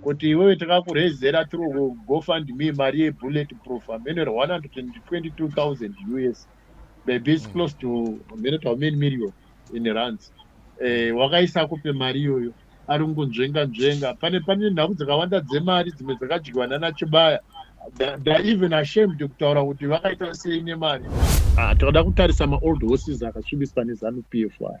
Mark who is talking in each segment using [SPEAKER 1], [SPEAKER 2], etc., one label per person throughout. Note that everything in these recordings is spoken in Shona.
[SPEAKER 1] kuti iwewe takakurezera through gofundme mari yebullet proof amene 122000 us maybe is mm. close to amene to amene million in runs eh, wakaisa kupe mari iyoyo ari kungonzvenga nzvenga pane pane nhau dzakawanda dzemari dzimwe dzakadyiwa nana chibaya ndaeven ashamed kutaura kuti vakaita sei nemari ah, tinoda kutarisa maold horses akatsvibiswa nezanu p f aya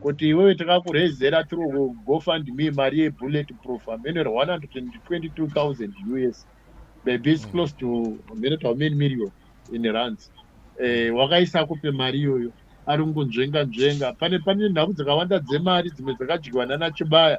[SPEAKER 1] kuti iwewe takakurezera through gofundme mari yebullet proof amene 122000 us maybe its mm. close to amene to amene million in runs eh, wakaisa kupe mari iyoyo ari kungonzvenga nzvenga pane pane nhau dzakawanda dzemari dzimwe dzakadyiwa nana chibaya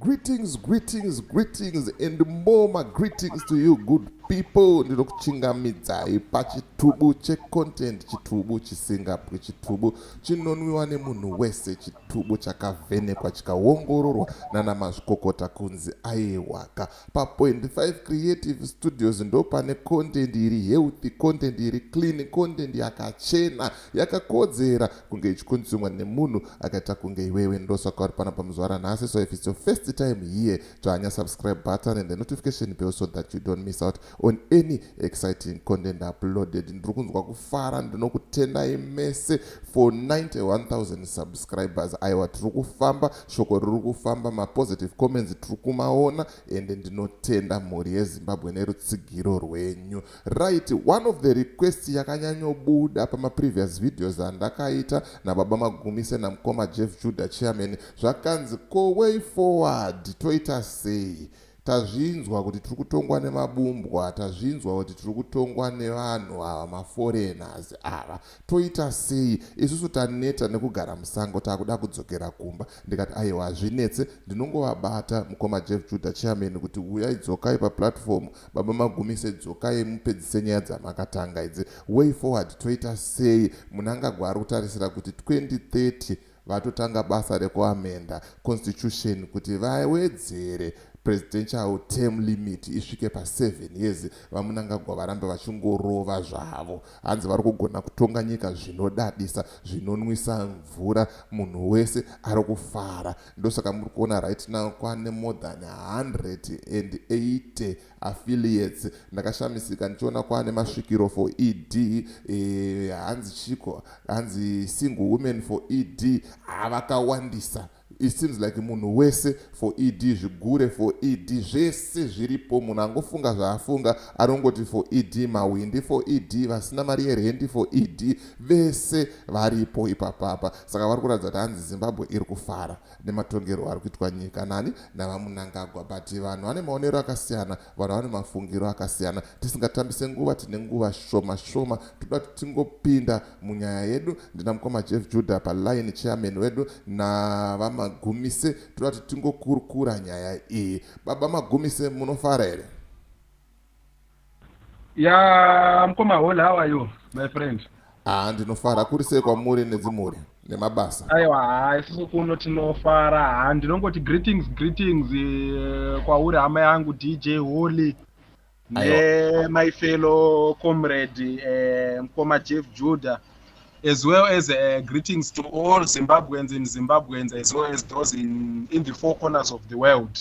[SPEAKER 2] Greetings, greetings, greetings, and more my greetings to you, good people. Ndinokuchingamidzai pachitubu checontent, chitubu chisingapwi, chitubu chinonwiwa nemunhu wese, chitubu chakavhenekwa chikaongororwa nana mazvikokota kunzi aiwaka. Pa point five creative studios ndopane content iri healthy, content iri clean, content yakachena, yakakodzera kunge ichikonsumwa nemunhu akaita kunge iwewe. Ndosaka uri panapa muzvara nhasi so if it's your first time here, tsvanya subscribe button and the notification bell so that you don't miss out. on any exciting content uploaded ndiri kunzwa kufara ndinokutendai mese for 91000 subscribers aiwa tiri kufamba shoko riri kufamba mapositive comments tiri kumaona ende ndinotenda mhuri yezimbabwe nerutsigiro rwenyu right one of the request yakanyanyobuda pamaprevious videos andakaita nababa magumise namukoma jeff judah chairman zvakanzi ko way forward toita sei Tazvinzwa kuti tiri kutongwa nemabumbwa, tazvinzwa kuti tiri kutongwa nevanhu ava maforeigners ava. Toita sei? Isusu taneta nekugara musango takuda kudzokera kumba. Ndikati aiwa hazvinetse ndinongovabata mukoma Jeff Judah chairman kuti huyai dzokai paplatform, baba Magumise dzokai mupedzise nyaya dzamakatanga idzi. Way forward toita sei? Munangagwa ari kutarisira kuti 2030 vatotanga basa rekuamenda constitution kuti vawedzere presidential term limit isvike pa 7 years vamunangagwa varambe vachingorova zvavo hanzi vari kugona kutonga nyika zvinodadisa zvinonwisa mvura munhu wese ari kufara ndosaka muri kuona right now kwane more than 180 affiliates ndakashamisika ndichiona kwaane masvikiro for ed eh, hanzi e, chiko hanzi single women for ed havakawandisa ah, it seems like munhu wese for ed zvigure for ed zvese zviripo munhu angofunga zvaafunga anongoti for ed mawindi for ed vasina mari yerendi for ed vese varipo ipapapa saka vari kuratidza kuti hanzi zimbabwe iri kufara nematongerwo ari kuitwa nyika nani navamunangagwa but vanhu vane maonero akasiyana vanhu vane mafungiro akasiyana tisingatambise nguva tine nguva shoma shoma toda kuti tingopinda munyaya yedu ndina mukoma jeff juda paline chairman wedu navamagumise toda kuti tingokurukura nyaya iyi baba magumise munofara here
[SPEAKER 3] ya mkoma hola how are you my friend ah ndinofara
[SPEAKER 2] kuri sei kwamuri nedzimhuri nemabasa aiwa haa isusu
[SPEAKER 3] kuno tinofara haa ndinongoti greetings greetings uh, kwauri hama yangu dj holy nemai fellow comrade uh, mkoma jeff judah as well as uh, greetings to all zimbabweans in zimbabweans as well as those in, in the four corners of the world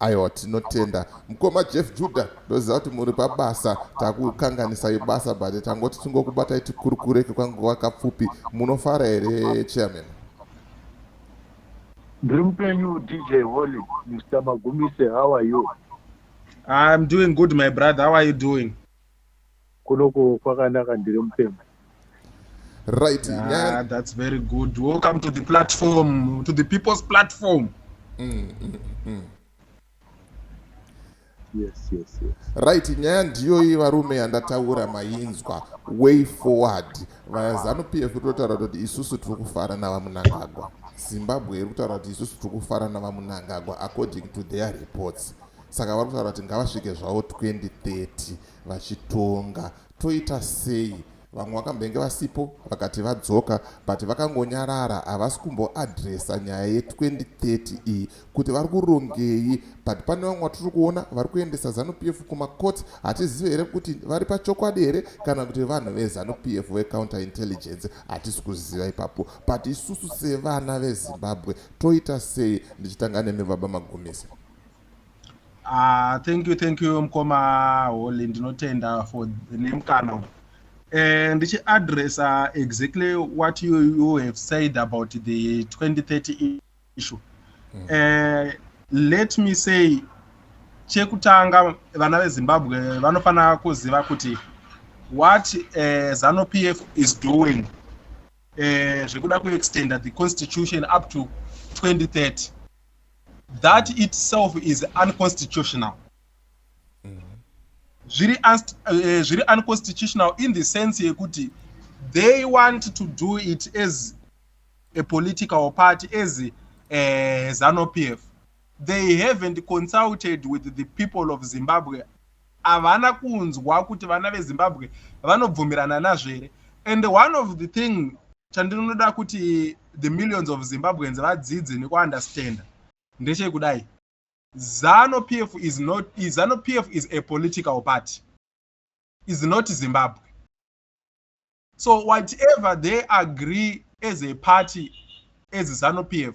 [SPEAKER 3] Aiwa
[SPEAKER 2] tinotenda mukoma Jeff Judah ndoziva kuti muri pabasa takukanganisai basa but tangoti tingokubatai tikurukure kekwanguva kapfupi munofara here chairman ndiri
[SPEAKER 1] mupenyu dj holy mr magumise how are you
[SPEAKER 3] i'm doing good my brother how are you doing Kunoko
[SPEAKER 1] kwakanaka ndiri mupenyu.
[SPEAKER 2] Right. Ah, yeah. that's
[SPEAKER 3] very good. Welcome to the platform, to the people's platform. Mm, mm, mm.
[SPEAKER 1] Yes, yes, yes. Right, nyaya
[SPEAKER 2] ndiyo iyi varume yandataura mainzwa way forward vazanu p f totaura kuti isusu tiri kufara navamunangagwa zimbabwe iri kutaura kuti isusu tiri kufara navamunangagwa according to their reports saka vari kutaura kuti ngavasvike zvavo 2030 vachitonga toita sei vamwe vakambenge vasipo vakati vadzoka but vakangonyarara havasi kumboadresa nyaya ye2030 iyi kuti vari kurongei but pane vamwe vatiri kuona vari kuendesa zanupf kumacourt hatizive here kuti vari pachokwadi here kana kuti vanhu vezanupf vecounter intelligence hatisi kuziva ipapo but isusu sevana vezimbabwe toita sei ndichitanga nemi baba magumisa Ah,
[SPEAKER 3] thank you thank you mkoma Holy ndinotenda for nemkana uyu. Eh ndichiadressa exactly what you, you have said about the 2030 issue. Mm. Eh let me say chekutanga vana veZimbabwe vanofanira kuziva kuti what eh, ZANU PF is doing eh zvekuda kuextenda the constitution up to 2030 that itself is unconstitutional mm-hmm. zviri eh, zviri unconstitutional in the sense yekuti they want to do it as a political party as uh, eh, zanu pf they haven't consulted with the people of zimbabwe havana kunzwa kuti vana vezimbabwe vanobvumirana nazvo here and one of the thing chandinoda kuti the millions of zimbabweans vadzidze nekuunderstanda ndechekudai zano p f is not zano p f is a political party is not zimbabwe so whatever they agree as a party as zano p f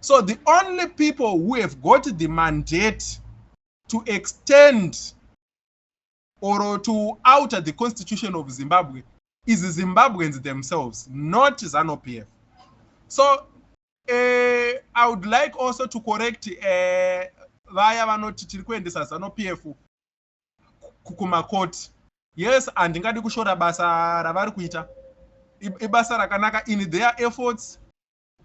[SPEAKER 3] so the only people who have got the mandate to extend or to outer the constitution of zimbabwe is zimbabweans themselves not zanopf so uh, i would like also to correct uh, vaya vanoti tiri kuendesa zanopf kumakoti yes handingadi kushora basa ravari kuita ibasa rakanaka in their efforts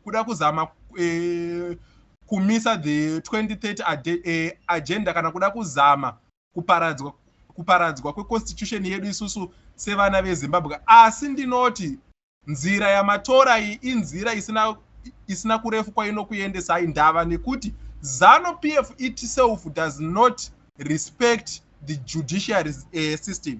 [SPEAKER 3] kuda kuzama eh, kumisa the 2030 eh, agenda kana kuda kuzama kuparadzwa kuparadzwa kweconstitution yedu isusu sevana vezimbabwe asi ndinoti nzira yamatora iyi inzira isina isina kurefu kwainokuendesai ndava nekuti zanu p f itself does not respect the judiciary uh, system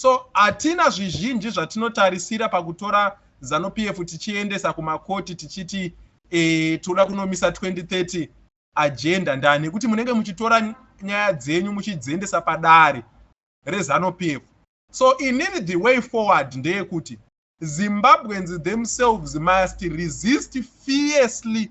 [SPEAKER 3] So hatina zvizhinji zvatinotarisira pakutora Zanu PF tichiendesa kumakoti tichiti eh, toda kunomisa 2030 agenda ndani nekuti munenge muchitora nyaya dzenyu muchidziendesa padare rezanu PF. So inini the way forward ndeyekuti Zimbabweans themselves must resist fiercely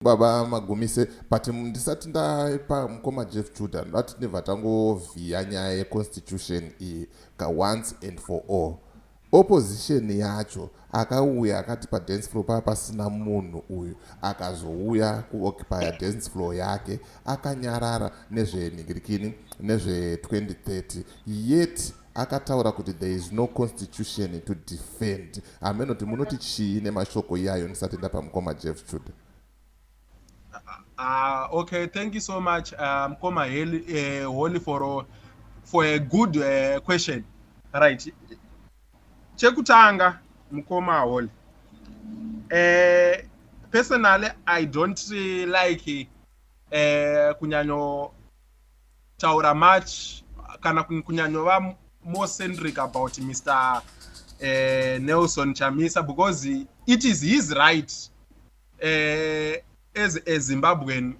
[SPEAKER 2] Baba Magumise but ndisati ndaipa mukoma Jeff Judah ndoda tinibva tangovhiya nyaya yeconstitution iyi kaonce and for all. Opposition yacho akauya akati padance floor paa pasina munhu uyu akazouya kuoccupya dance floor yake akanyarara nezvenhingirikini nezve 2030 yet akataura kuti there is no constitution to defend hameno kuti munoti chii nemashoko iyayo ndisati ndapa mukoma jeff chuda Uh,
[SPEAKER 3] okay, thank you so much, uh, Mkoma uh, Holy, for, uh, for a good uh, question. Right. Chekutanga, Mkoma Holy. Uh, personally, I don't uh, like uh, kunyanyo taura much kana kunyanyova more centric about mr eh, nelson chamisa because it is his right eh, as a zimbabwean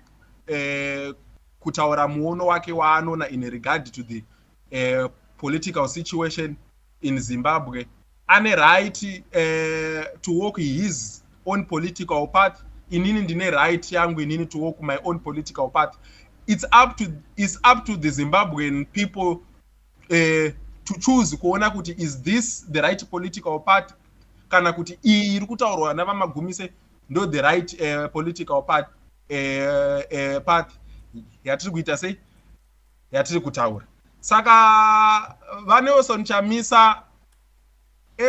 [SPEAKER 3] eh, kutaura muono wake waanona in regard to the eh, political situation in Zimbabwe ane right uh, to walk his own political path inini ndine right yangu inini to walk my own political path it's up to, it's up to the Zimbabwean people uh, to choose kuona kuti is this the right political path kana kuti iyi iri kutaurwa navamagumise ndo the right uh, political path, uh, uh, path yatiri kuita sei yatiri kutaura saka vanelson chamisa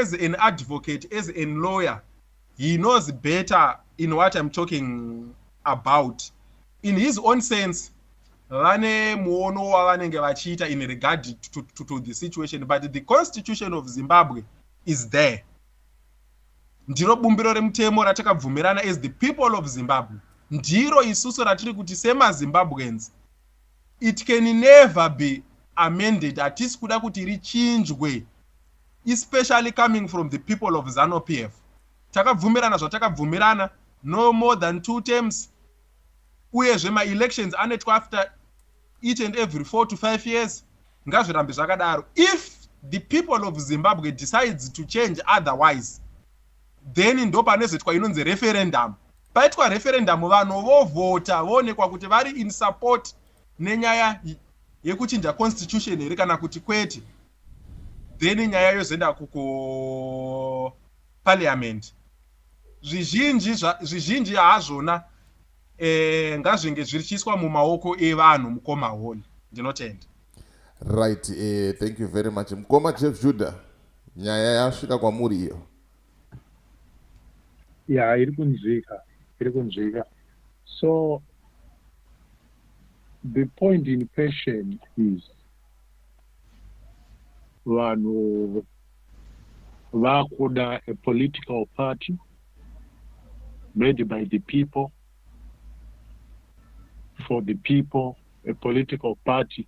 [SPEAKER 3] as an advocate as an lawyer he knows better in what im talking about in his own sense vane muono wavanenge vachiita in regard to, to, to the situation but the constitution of zimbabwe is there ndiro bumbiro remutemo ratakabvumirana as the people of zimbabwe ndiro isusu ratiri kuti semazimbabweans It can never be amended hatisi kuda kuti richinjwe especially coming from the people of Zanu PF. Takabvumirana zvatakabvumirana no more than two terms uyezve ma elections anoitwa after each and every four to five years ngazvirambe zvakadaro if the people of Zimbabwe decides to change otherwise then ndopanozoitwa inonzi referendum paitwa referendum vanhu vovhota voonekwa kuti vari in support nenyaya yekuchinja constitution here kana kuti kwete then nyaya yozoenda kukuparliament zvizhinji zvizhinji hazvona eh, ngazvinge zvichiiswa mumaoko evanhu mukoma holi ndinotenda right
[SPEAKER 2] eh, thank you very much mukoma jeff judah Nyaya yasvika kwamuri iyo?
[SPEAKER 1] Ya, iri kunzwika, iri kunzwika. So the point in question is vanhu vakuda a political party made by the people for the people a political party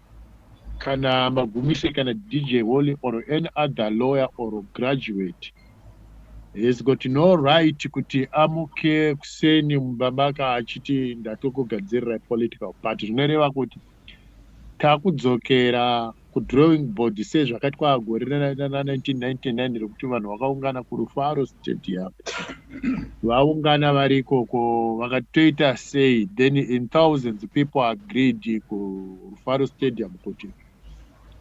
[SPEAKER 1] Kana Magumise kana DJ Holy or any other lawyer or graduate has got no right kuti amuke kuseni mumba maka achiti ndatokugadzirirai political party zvinoreva kuti takudzokera kudrawing board sezvakaitwa gore rana 1999 rekuti vanhu vakaungana kurufaro stadium vaungana vari ikoko vakati toita sei then in thousands people agreed kurufaro stadium kuti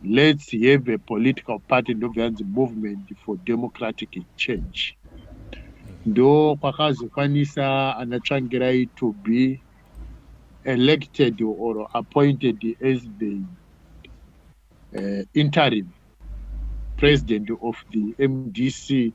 [SPEAKER 1] let's have a political party ndobva yanzi movement for democratic change ndo kwakazokwanisa ana tsvangirai to be elected or appointed as the uh, interim president of the mdc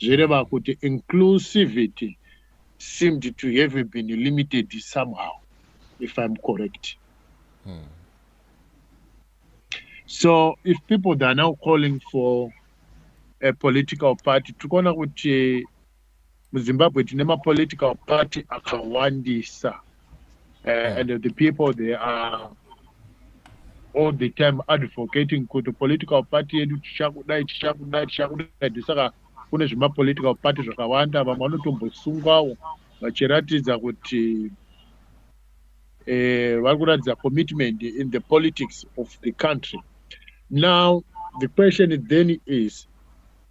[SPEAKER 1] zvireva kuti inclusivity seemed to have been limited somehow if I'm correct. Hmm. So if people that are now calling for a political party, tikuona kuti muZimbabwe tine mapolitical party akawandisa uh, and the people they are all the time advocating kuti political party yedu tichakudai tichakudai tichakudai ndisaka kune zvemapolitical party zvakawanda vamwe vanotombosungwawo vachiratidza kuti eh, vari kuratidza commitment in the politics of the country now the question then is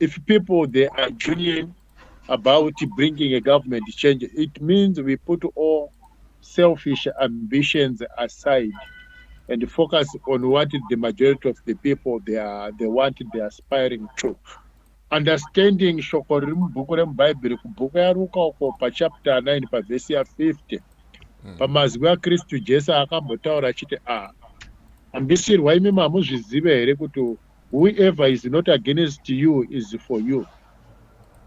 [SPEAKER 1] if people they are genuine about bringing a government change, it means we put all selfish ambitions aside and focus on what the majority of the people they are they want they are aspiring to understanding shoko riri mubhuku remubhaibheri kubhuku yaruka uko pachapter 9 pavhesi ya50 hmm. pamazwi akristu jesu akambotaura achiti a ah, ambisirwa imi mamuzvizive here kuti Whoever is not against you is for you.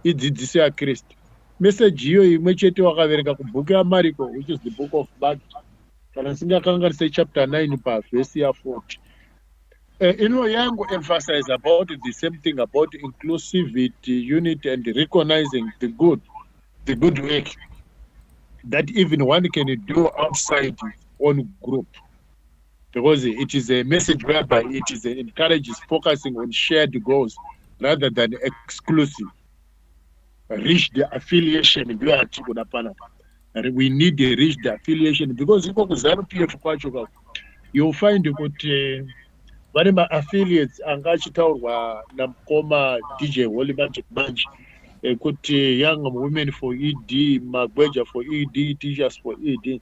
[SPEAKER 1] Idzidzisi ya Kristu. Message iyo imwe chete wakaverenga kubhuku ya Mariko which is the book of Mark kana singakanganise chapter 9 pa verse ya 40. Uh, ino yangu emphasize about the same thing about inclusivity, unity and recognizing the good, the good work that even one can do outside on group. because it is a message whereby it is encourages focusing on shared goals rather than exclusive reach the affiliation ndiyo atiri kuda panapa we need a reach the affiliation because iko kuzanu p f kwacho ka youll find kuti eh, vane maaffiliates anga achitaurwa namukoma dj holy magic manje ekuti eh, young women for ed magweja for ed teachers for ed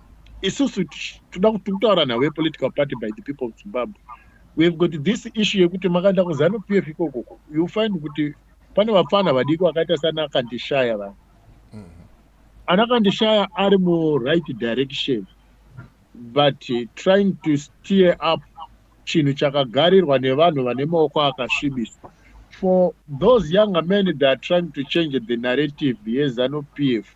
[SPEAKER 1] isusu toda kutaura nhau yepolitical party by the people of zimbabwe weave got this issue yekuti makaenda kuzanu p f ikokoko you find kuti pane vapfana vadiki vakaita sana kandishaya vanhu mm-hmm. ana kandishaya ari muright direction but trying to steer up chinhu chakagarirwa nevanhu vane maoko akasvibiswa for those younger men that are trying to change the narrative yezanu p f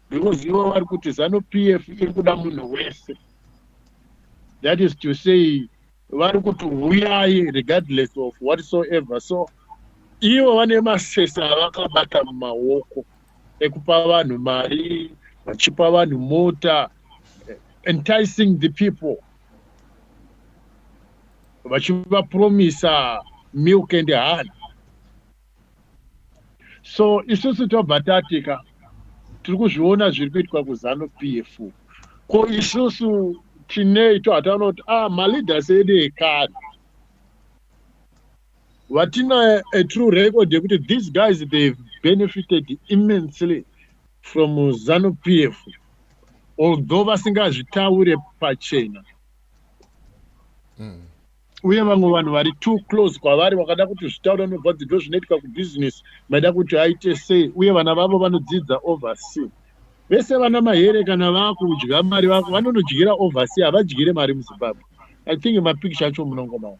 [SPEAKER 1] because ivo vari kuti zanu p f iri kuda munhu wese that is to say vari kuti huyai regardless of whatsoever so ivo vane masesa avakabata mumaoko ekupa vanhu mari vachipa vanhu mota eh, enticing the people vachivapromisa milk and honey so isusu tobva tatika tiri kuzviona zviri kuitwa kuzanu pf ko isusu tinei to hataona kuti ah maleaders edu ekare vatina a true record yekuti these guys they benefited immensely from zanu pf although vasingazvitaure pachena mm. uye vamwe vanhu vari too close kwavari vakada kuti zvitaura nobva dzibve zvinoitwa kubusiness maida kuti aite sei uye vana vavo vanodzidza oversea vese vana mahere kana vakudya mari vako vanonodyira oversea havadyire mari muzimbabwe i think mapicture acho munongomao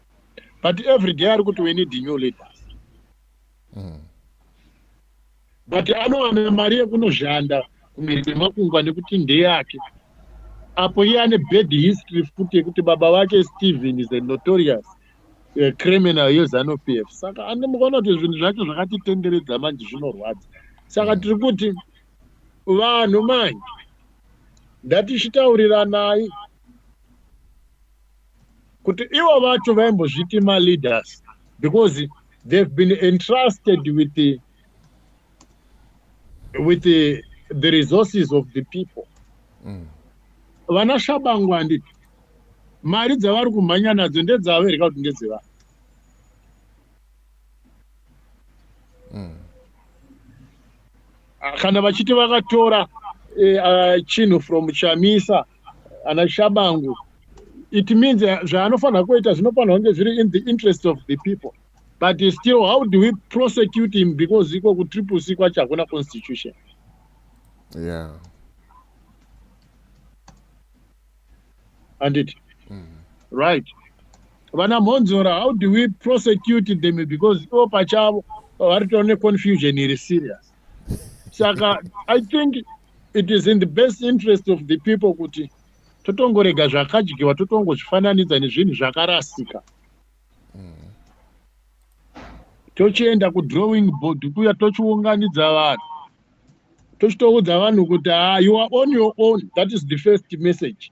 [SPEAKER 1] but every day ari kuti we need new leaders mm. but anowana mari yekunoshanda kumhiri kwemakungwa nekuti ndeyake apo iye ane bad history futi yekuti baba vake stephen is a notorious uh, criminal yezanu p f saka andimukaona kuti zvinhu zvacho zvakatitenderedza manje zvinorwadza saka mm. tiri kuti vanhu manje ndatichitauriranai kuti ivo vacho vaimbozviti maleaders because they've been entrusted with the, with the, the resources of the people mm. vana shabangu handiti mari dzavari kumhanya nadzo ndedzavo here ka kuti ndedzevanhu mm. kana vachiti vakatora eh, ah, chinhu from chamisa mm. ana shabangu it means eh, zvaanofanira kuita zvinofanira kunge zviri in the interest of the people but still how do we prosecute him because iko kutriple c kwacho hakuna constitution
[SPEAKER 2] yeah.
[SPEAKER 1] anditi mm -hmm. right vana mhonzora how do we prosecute them because ivo pachavo vari tone confusion iri serious saka i think it is in the best interest of the people kuti totongorega zvakadyiwa totongozvifananidza nezvinhu zvakarasika tochienda kudrawing board kuya tochiunganidza vanhu tochitoudza vanhu kuti ah, you are on your own that is the first message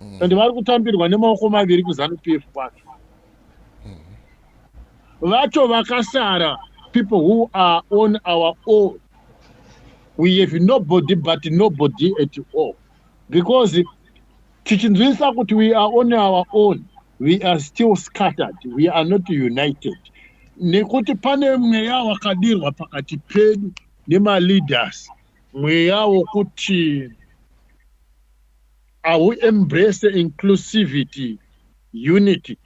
[SPEAKER 1] mm. and vari kutambirwa nemaoko maviri kuzanu pf kwacho vacho vakasara people who are on our own we have nobody but nobody at all because tichinzwisa kuti we are on our own we are still scattered we are not united nekuti pane mweya wakadirwa pakati pedu nemaleaders mweya wokuti Ahu embrace inclusivity unity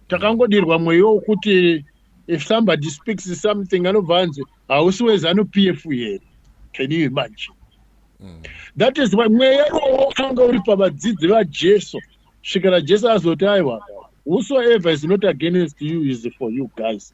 [SPEAKER 1] takangodirwa mweyo wokuti if somebody speaks something anobva anzi hausi wezanu p f here can you imagine mm. that is why mweya iwowo wakanga uri pavadzidzi vajesu svikira jesu azoti aiwa whosoever is not against you is for you guys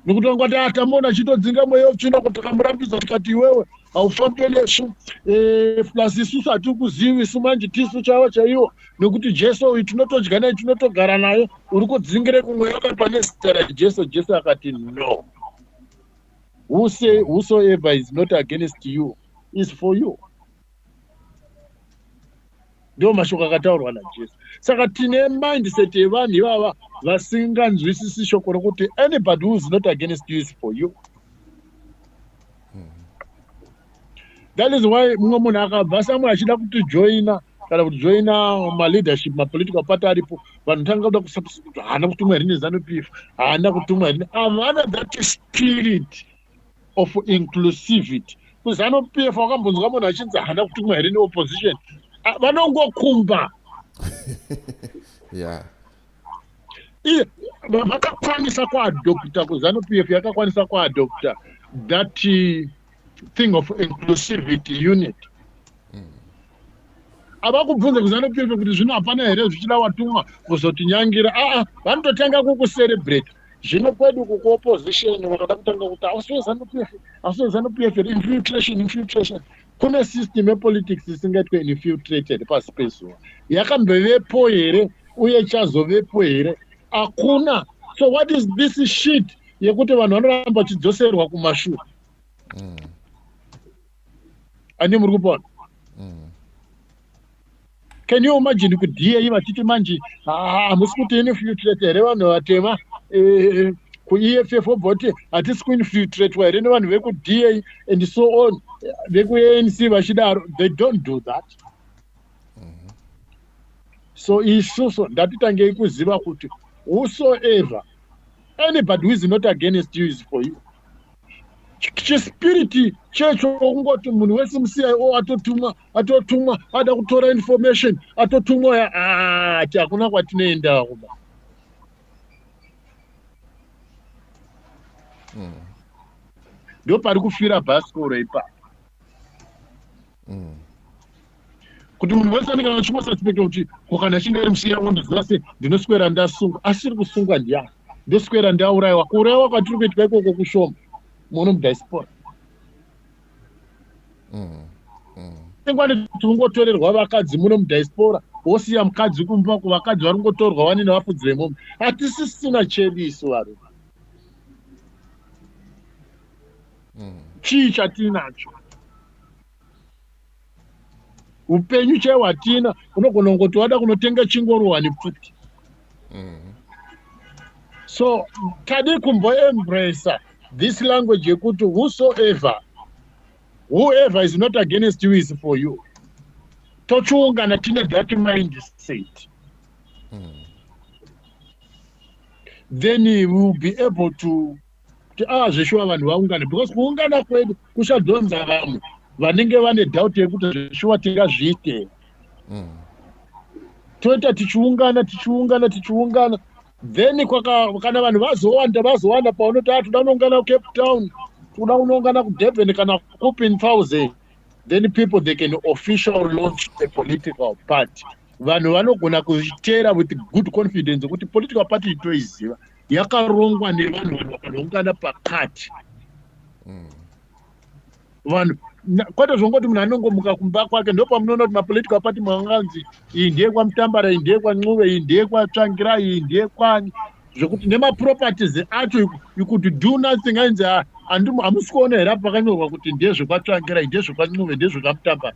[SPEAKER 1] ndikutanga kuti atamona ah, chitodzinga mweya wetsvina kuti takamurambidza tikati iwewe haufambe nesu eh, plus isusu hatikuzivi isu manje tisu chavo chaiwo nekuti jesu uyu tinotodya naye tinotogara naye uri kudzingire kumweya wakati pane zita rajesu jesu akati no whosoever is not against you is for you ndiwo mashoko akataurwa najesu saka tine mindset yevanhu ivava vasinganzwisisi shoko rokuti anybody whois not against you is for you that is why mumwe munhu akabva samwe achida kutijoina kana kutijoina maleadership mapolitical party aripo vanhu tanga kuda kusapskuti haana kutumwa here nezanupf haana kutumwa here havana that spirit of inclusivity kuzanu pf wakambonzwa munhu achinzi haana kutumwa here neopposition ah, vanongokumba
[SPEAKER 2] yeah
[SPEAKER 1] vakakwanisa kuadopta kuzanu pf yakakwanisa kuadopta that uh, thing of inclusivity unit avakubvunza kuzanopirwa kuti zvino hapana here zvichida watumwa kuzotinyangira aa vanototanga kukucerebrate zvino kwedu kukuopposition vakada kutanga kuti ausiwezanupf ausiwezanupf infiltration infiltration kune system yepolitics isingaitwe infiltrated pasi pezuva yakambovepo here uye chazovepo here hakuna so what is this shit yekuti vanhu vanoramba vachidzoserwa kumashure mm. ani muri kupona mm. can you imagine kuti dai vachiti manje hamusi kuti infiltrate here vanhu vatema eh, kueff obva kuti hatisi kuinfiltratwa here nevanhu vekuda and so on vekuanc vachidaro they don't do that mm-hmm. so isusu ndatitangei kuziva kuti whosoever anybody who is not against you is for you chispiriti checho kungoti munhu wese mucio atotumwa atotumwa ada kutora information atotumwa ya ati ah, hakuna kwatinoendaa kuba mm. ndopari kufira bhasikoro ipapo mm. kuti munhu wese anenge achimasaspekta kuti kokana chinge ari musiya wo ndaziva se ndinoswera ndasungwa asiri kusungwa ndiyani ndoswera ndaurayiwa kuurayiwa kwatiri kuitwa ikoko kushoma muno mudiaspora mm, mm. ingwani kuti ungotorerwa vakadzi muno mudiaspora wosiya mukadzi kumba kuvakadzi vari kungotorwa wani nevafudzi vemombe hatisisina chedu isu varume mm. chii chatiri nacho upenyu chaiwo hatina unogona kungoti wada kunotenga chingoro wani pfuti mm-hmm. so tadi kumboembracer this language yekuti whosoever whoever is not against you is for you tochiungana tine that mind state mm. then we will be able to kuti aa ah, zveshuwa vanhu vaungane because kuungana kwedu kuchadhonza vamwe vanenge vane doubt yekuti zveshuwa tingazviite mm. toita tichiungana tichiungana tichiungana then kana vanhu vazowanda vazowanda paunoti a toda unoungana kucape town toda unoungana kudurban kana kupi in thousand then people they can official launch a political party vanhu vanogona kuzvitera with good confidence kuti political party itoiziva mm. yakarongwa nevanhu vanhu vakanongana pakati mm. vanhu kwete zvongoti munhu anongomuka kumba kwake ndo pamunoona kuti mapolitical party manganzi iyi ndeyekwamutambara iyi ndeyekwancuve iyi ndeyekwatsvangira iyi ndeyekwani zvekuti nemaproperties acho you could do nothing ainzi ah, hamusi kuona here apo pakanyorwa kuti ndezvekwatsvangira iyi ndezvekwancuve ndezvekamutambara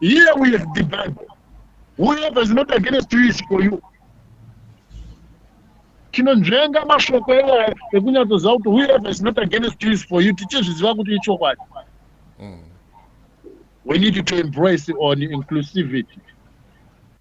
[SPEAKER 1] here with the bible whoever is not against you is for you tinonzvenga mashoko iwaya ekunyatsoziva kuti whoever is not against you is for you tichizviziva kuti ichokwadi mm. we need to embrace on inclusivity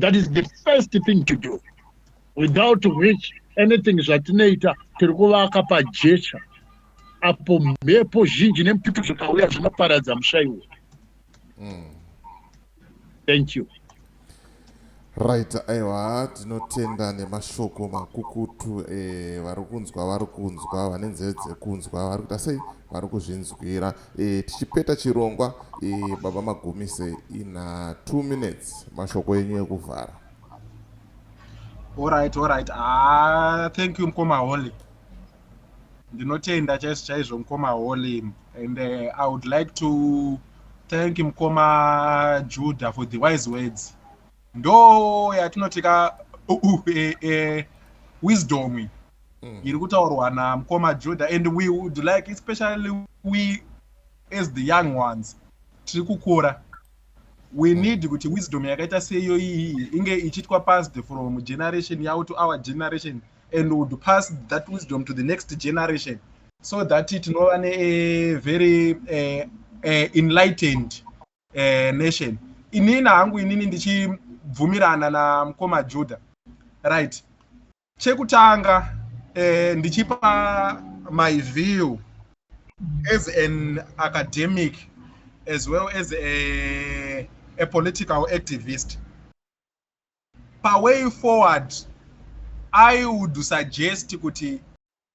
[SPEAKER 1] that is the first thing to do without which anything zvatinoita tiri kuvaka pajecha apo mhepo zhinji nemututu zvakauya zvinoparadza mushaiwo mm. thank you
[SPEAKER 2] right aiwa tinotenda nemashoko makukutu eh, vari kunzwa vari kunzwa vane nzeve dzekunzwa vari kuita sei vari kuzvinzwira E, tichipeta chirongwa e, baba magumise ina two minutes mashoko enyu ekuvhara
[SPEAKER 3] orit orit ah, thank you mkoma holy ndinotenda chaizvo chaizvo mkoma holy and uh, i would like to thank mkoma juda for the wise words ndo yatinoti ka uh, uh, eh, eh, wisdom iyi mm. iri kutaurwa namukoma juda and we would like especially we as the young ones tiri kukura we hmm. need kuti wisdom yakaita seiyo iyi inge ichiitwa passed from generation yavo to our generation and would pass that wisdom to the next generation so that tinova nevery uh, eh, uh, eh, enlightened eh, nation inini hangu inini ndichibvumirana namukoma juda right chekutanga eh, ndichipa my view as an academic as well as a, a political activist paway forward i would suggest kuti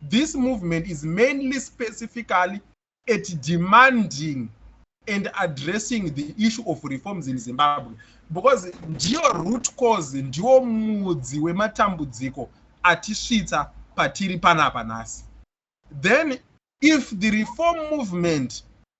[SPEAKER 3] this movement is mainly specifically at demanding and addressing the issue of reforms in zimbabwe because ndiyo root cause ndiwo mudzi wematambudziko atisvitsa patiri panapa nhasi then if the reform movement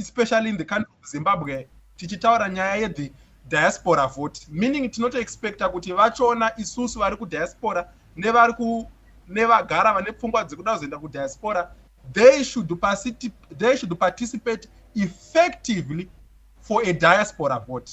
[SPEAKER 3] especially in the country of zimbabwe tichitaura nyaya yethe diaspora vote meaning tinotoexpecta kuti vachoona isusu vari kudiaspora nevari ku nevagara vane pfungwa dzekuda kuzoenda kudiaspora they should, they should participate effectively for a diaspora vote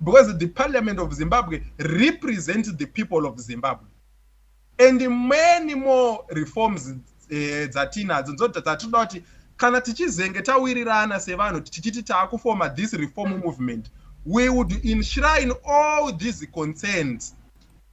[SPEAKER 3] Because the parliament of Zimbabwe represents the people of Zimbabwe and many more reforms eh, dzatinadzo nzoda dzatinoda kuti kana tichizenge tawirirana sevanhu tichiti taakufoma this reform movement we would enshrine all these concerns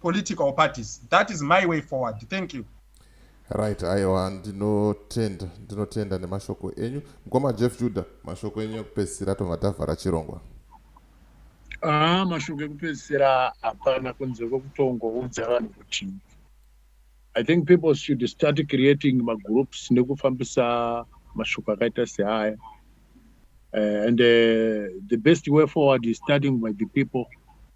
[SPEAKER 3] political parties that is my way forward thank you right
[SPEAKER 2] aiwa ndinotenda ndinotenda nemashoko enyu mukoma jeff juda mashoko enyu ekupedzisira tobva tavhara chirongwa aa ah,
[SPEAKER 1] mashoko ekupedzisira hapana kunze kwekutongoudza vanhu kuti i think people should start creating magroups nekufambisa mashoko akaita seaya uh, and uh, the best way forward is starting by the people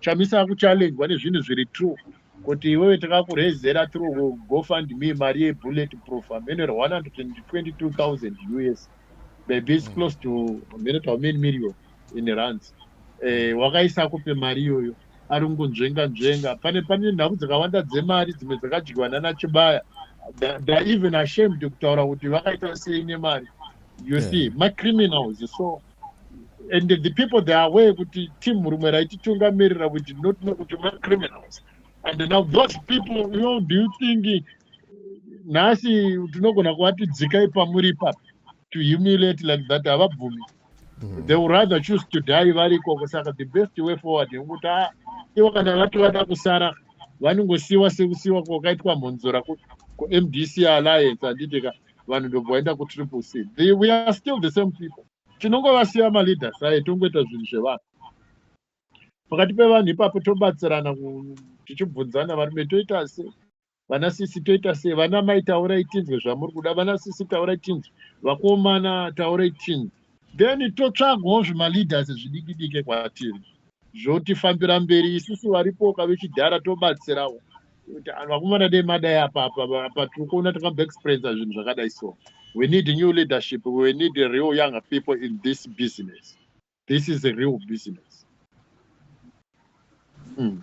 [SPEAKER 1] chamisa akuchallengwa nezvinhu zviri true kuti iwewe takakurezera tiri gofund me mari yebullet proof amene 122000 us maybe is close to amene to amene million in runs eh, wakaisa kupe mari iyoyo ari kungonzvenga nzvenga pane pane nhau dzakawanda dzemari dzimwe dzakadyiwa nana chibaya they're even ashamed kutaura kuti vakaita sei nemari you yeah. see macriminals so and the people they are aware kuti team rumwe raititungamirira we did not know kuti we're criminals and now those people you know, do you think nhasi tinogona kuvati dzikai pamuri ipapi to humiliate like that havabvumi mm. they would rather choose to die vari ikoko saka the best way forward yekuti a ah, ivo kana vati vada kusara vanongosiyiwa sekusiyiwa kwakaitwa mhonzora kumdc alliance handiti ka vanhu ndobva vaenda kutriple c the, we are still the same people tinongovasiya maleaders aye tongoita zvinhu zvevanhu pakati pevanhu ipapo tobatsirana tichibvunzana varume toita se vana sisi toita se vana mai taurai tinzwe zvamuri kuda vana sisi taurai tinzwe vakomana taurai tinzwe then totsvagawo zvimaleaders zvidiki dike kwatiri zvotifambira mberi isusu varipoka vechidhara tobatsirawo vakomana dei madai apa apa tiri kuona takabaexperiensa zvinhu zvakadai so we need new leadership we need real younger people in this business this is a real business mm.